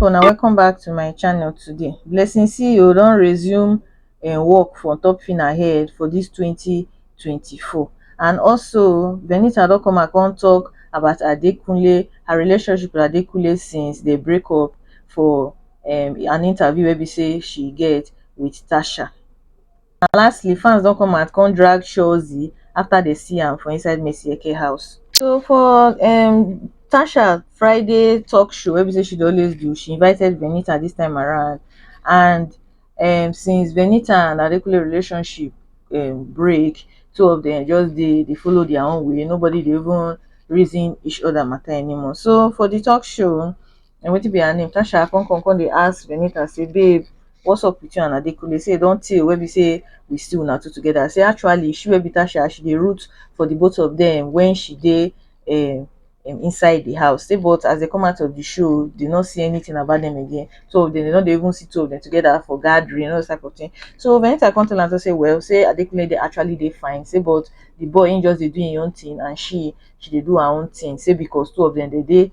pipo na welcome back to my channel today blessing ceo don resume im um, work for top fina head for dis 2024 and also benita don come and come tok about adekunle her relationship with adekunle since dey break up for um, an interview wey be say she get with tasha and lastly fans don come out come drag shozi afta dem see am for inside madueke house so for um tasha friday tok show wey be say she dey always do she invited venita dis time around and um since venita and adekunle relationship um break two of dem just dey dey follow dia own way nobody dey even reason each oda mata anymore so for di tok show na wetin be her name tasha come come come dey ask Venita say babe what's up with you and Adekunle say e don tey wey be say we see una two together say actually she wey be Tasha she dey root for the both of them when she dey um inside the house say but as they come out of the show they no see anything about them again so they no dey even see two of them together for gathering and all those type of thing so Venita come tell am say well say Adekunle dey actually dey fine say but the boy him just dey do him own thing and she she dey do her own thing say because two of them dey dey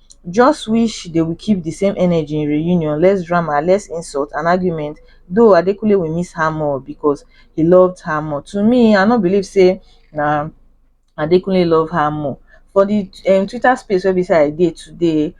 just wish they will keep the same energy in reunion less drama less insult and argument though adekunle will miss her more because he loved her more to me i no believe say na adekunle love her more for the um, twitter space where beside i dey today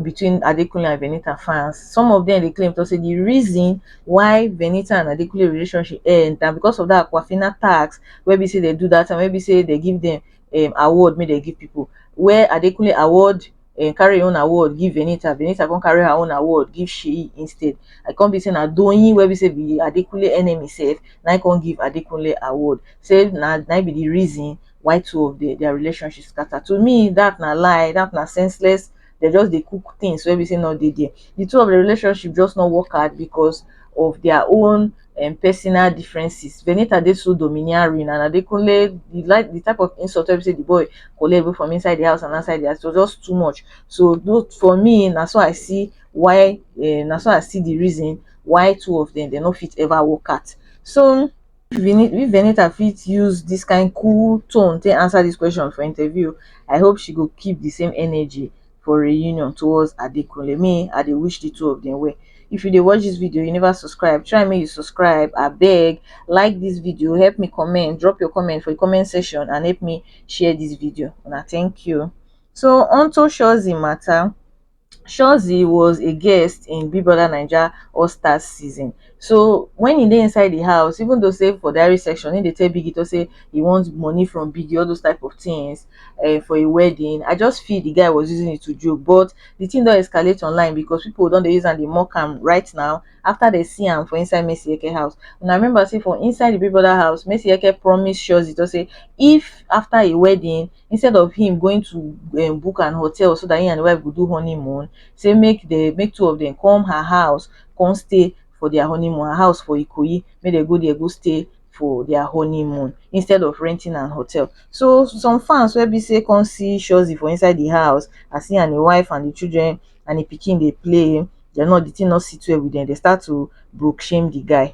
between adekunle and venita fans some of them dey claim to say the reason why venita and adekunle relationship end na because of that aquafina tax wey be say they do that and wey be say they give them um award make dem give people where Adekunle award um carry im own award give Venita, Venita come carry her own award give Seyi instead. I come be say na Doyin wey be say be Adekunle enemy sef na im come give Adekunle award. Say na na im be the reason why two of the their relationship scatter. To me that na lie, that na senseless dem just dey cook things wey be say no dey there. The two of the relationship just no work out because of their own um personal differences. Venita dey so domineering and Adekunle the like the type of insult wey be say the boy collect both from inside the house and outside the house was just too much. So though for me na so I see why um na so I see the reason why two of them dem no fit ever work out. So If Venita fit use dis kind cool tone take answer dis question for interview, I hope she go keep the same energy for reunion towards Adekunle. Me, I dey wish the two of them well. If you dey watch dis video, you never subscribe, try make you subscribe abeg. Like dis video, help me comment, drop your comment for the comment section and help me share dis video. Una thank you. So onto Shozi matter, shozi was a guest in big brother naija all stars season so when he dey inside the house even though say for diary section he dey tell biggie to say he wants money from biggie all those type of things uh, for a wedding i just feel the guy was using it to joke but the thing don escalate online because people don dey use am dey mock am right now after they see am for inside messi eke house una remember say for inside the big brother house messi eke promise shozi to say if after a wedding instead of him going to um book an hotel so that he and the wife go do honeymoon say make the make two of them come her house come stay for their honeymoon her house for ikoyi make they go there go stay for their honeymoon instead of renting an hotel so some fans wey be say come see shozi for inside the house as he and him wife and the children and the pikin dey play they're not the thing not sit well with them they start to broke shame the guy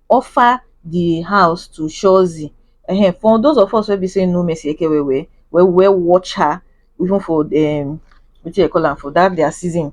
offer di house to shozi um for those of us wey be sey know mercy eke well well wey we were watch her even for um wetin dem call am for dat their season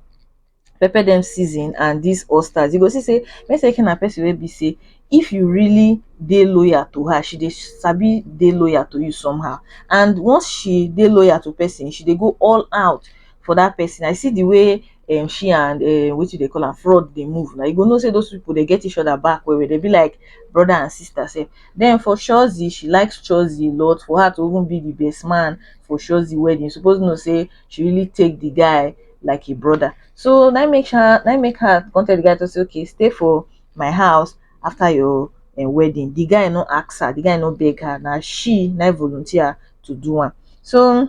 pepper dem season and dis all stars you go see sey mercy eke na person wey be sey if you really dey loyal to her she dey sabi dey loyal to you somehow and once she dey loyal to person she dey go all out for dat person I see di way um she and um wetin dey call am fraud dey move na you go know say those people dey get each other back well well dey be like brother and sister sef then for shozi she likes shozi a lot for her to even be the best man for shozi wedding you suppose know say she really take the guy like a brother so na make her na make her come tell the guy to say okay stay for my house after your um, wedding the guy no ask her the guy no beg her na she na volunteer to do am so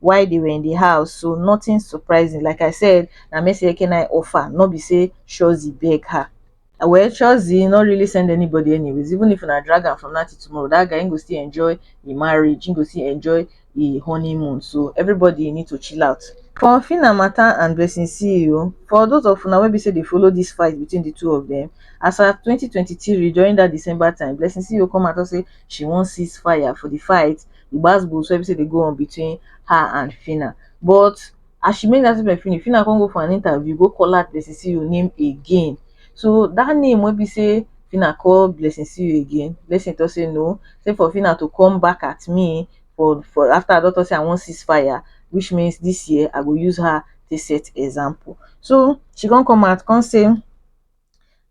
while they were in the house. So nothing surprising. Like I said, Namese can I offer, not be say Shozi beg her. Uh, well, Shozi not really send anybody anyways. Even if I drag her from Natty tomorrow, that guy ain't go still enjoy the marriage, ain't go still enjoy the honeymoon. So everybody need to chill out. For Fina Mata and Blessing CEO, for those of una wey be say they follow this fight between the two of them, as of 2023 during that December time, Blessing CEO come out and say she wan cease fire for the fight the gbas gbos wey be say dey go on between her and Phyna but as she make that statement finish Phyna come go for an interview go call out Blessing Ceo name again so that name wey be say Phyna call Blessing Ceo again Blessing talk say no say for Phyna to come back at me for for after I don talk say I wan cease fire which means this year I go use her take set example so she come come out come say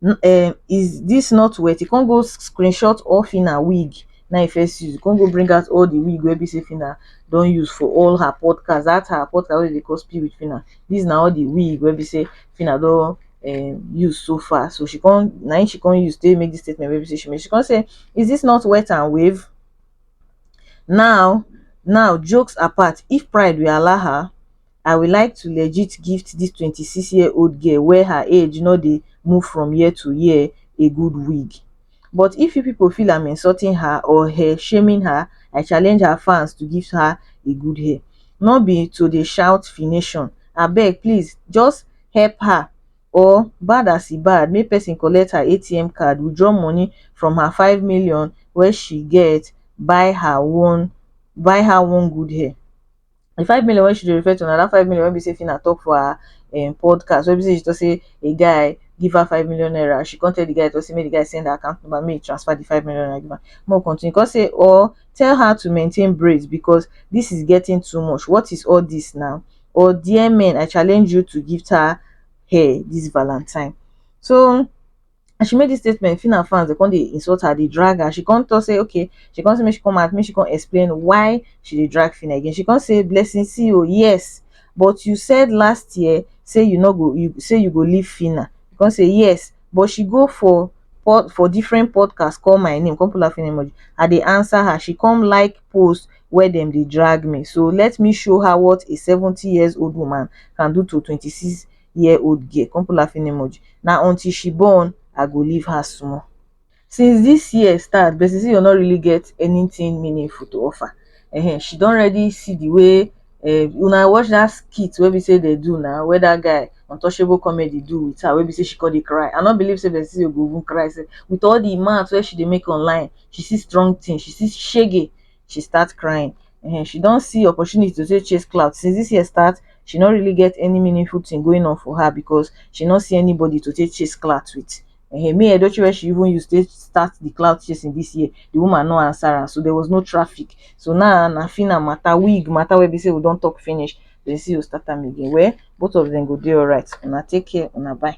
um is this not wet he come go screenshot all Phyna wig na him first use he come go bring out all the wig wey be say Phyna don use for all her podcast that her podcast wey dey call speak with Phyna these na all the wig wey be say Phyna don um use so far so she come na him she come use take make this statement wey be say she make she come say is this not wet and wave now now jokes apart if pride will allow her i will like to legit gift dis twenty six year old girl wey her age no dey move from year to year a good wig but if you pipo feel am insulting her or her shaming her i challenge her fans to gift her a good hair no be to dey shout fination abeg please just help her or bad as e bad make person collect her atm card withdraw money from her five million wey she get buy her one buy her one good hair the five million wey she dey refer to na that five million wey be sey Phyna talk for her um podcast wey be sey she talk sey a guy give her five million naira she come tell the guy talk sey make the guy send her account number make he transfer the five million naira give am make we continue he come say or tell her to maintain braids because this is getting too much what is all this na or dear men I challenge you to gift her hair this valentine so as she make dis statement Phyna fans dey come dey insult her dey drag her she come talk say okay she come say make she come out make she come explain why she dey drag Phyna again she come say Blessing see oo yes but you said last year say you no go you say you go leave Phyna she come say yes but she go for pod for different podcast call my name come put laughing emoji I dey answer her she come like post where dem dey drag me so let me show her what a seventy years old woman can do to twenty six year old girl come put laughing emoji na until she born i go leave her small since this year start Bessie Siyo no really get anything meaningful to offer um she don already see the way um una watch that skit wey be say they do na where that guy untouchable comedy do with her wey be say she come dey cry i no believe say Bessie Siyo go even cry sef with all the mouth wey she dey make online she see strong thing she see shege she start crying um she don see opportunity to take chase clout since this year start she no really get any meaningful thing going on for her because she no see anybody to take chase clout with um me edochie wey she even use take start the clout chasing this year the woman no answer am so there was no traffic so now na fina matter wig matter wey be say we don talk finish person go start am again well both of them go dey alright una take care una bye